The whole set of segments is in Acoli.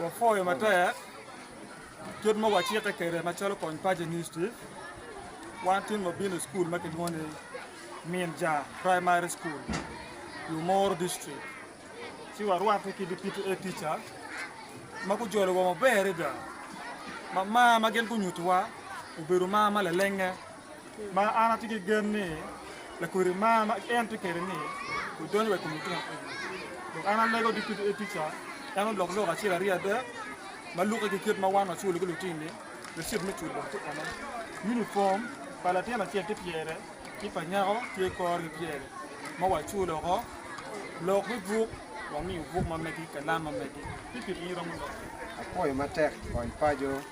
Wapwoyo matek kit ma wacikke kwede macalo Kony Paco Initiative. Wan tin wabino i cukul ma kilwongo ni Min Ja Primary School i Omoro District ci warwatte ki PTA tica ma gujolo wa maber adada. Ma mar ma gin gunyutiwa obedo mar ma lalenge. ma an atye ki gen ni lakodi mar ma en tye kwede ni odonyo wa i kom lutino eni. Dok an alego ki kit tica en olok lok acel aryo adek ma lukke ki kit ma wan waculo ki lutini Recit me cul dong tye ene, unifom pa latin acel tye pyere ki pa nyako tye kore kipyere ma waculo woko, lok me buk wamiyo buk ma megi, kalam ma megi. Pikiri in iromo lok? Apwoyo matek kony paco.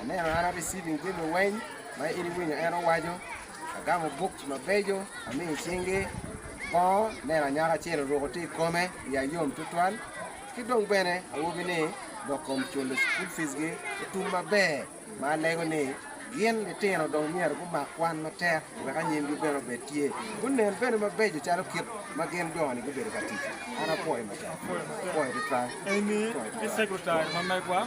Aneno an a receiving jami weng ma in iwinyo en owaco, agamo books mabeco amiyo i cingi, bongo aneno anyaka acel oruko tye i kome wiya yom tutwal, ki dong bene awobi ni dok kom culo school fees gi otum maber ma alego ni gin litino dong myero gumak kwan matek wek anyim gi bene obed tye gunen bene mabeco calo kit ma gin jo ni gubedo ka tic an apwoyo matek apwoyo tutwal. Amy ki secretary ma megwa.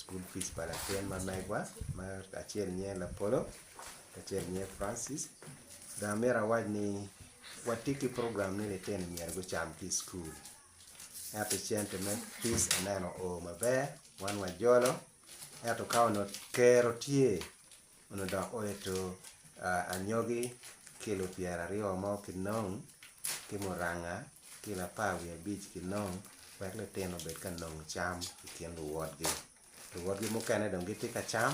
School fees pa latin ma megwa ma acel nyer Lapolo ki acel nyer Francis dong amyero awac ni watye ki program ni litino myero gucam ki i school ento cente me fees aneno oo maber wan wajolo ento ka onongo kero tye Onongo dok oeto anyogi ki lu pyera aryo mo ki nong, ki muranga ki lapar wiye abic ki nong, wek litino obed ka nongo cam i kin luwotgi. Luwotgi mukene dong gitye ka cam,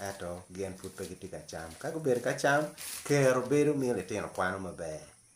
ento gin pud pe gitye ka cam. Ka gubedo ka cam, kero bedo miyo litino kwano maber.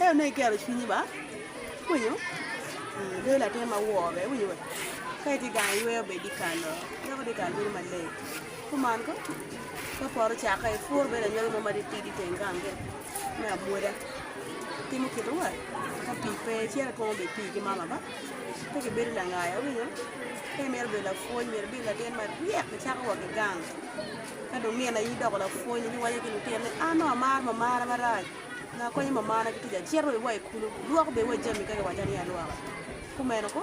Ento nongo igero cwinyi ba, winyo, dong latin ma wor bene iwinyo wa, ka itye gang iyweyo bed ikalo dok idhi ikalo bedo maleng kuman ko, ka pore ocakke ipur bedo anyogi mo ma titidi iteng gang kene me amwoda, itimo kite wa, ka pii pe icito itwomo bene pii ki mama ba, pe kibedo langaya iwinyo, ka imito bedo lapwony myero ibed latin maryek icako wa ki gang, ka dong nino aye idoko lapwony iwaco ki lutino ni an nongo amar mamara marac. Nga konyo mamana ki kica? Cit wa iwa i kulu, lwok bene wa jami ka giwacani alwoka. Kumeno ko.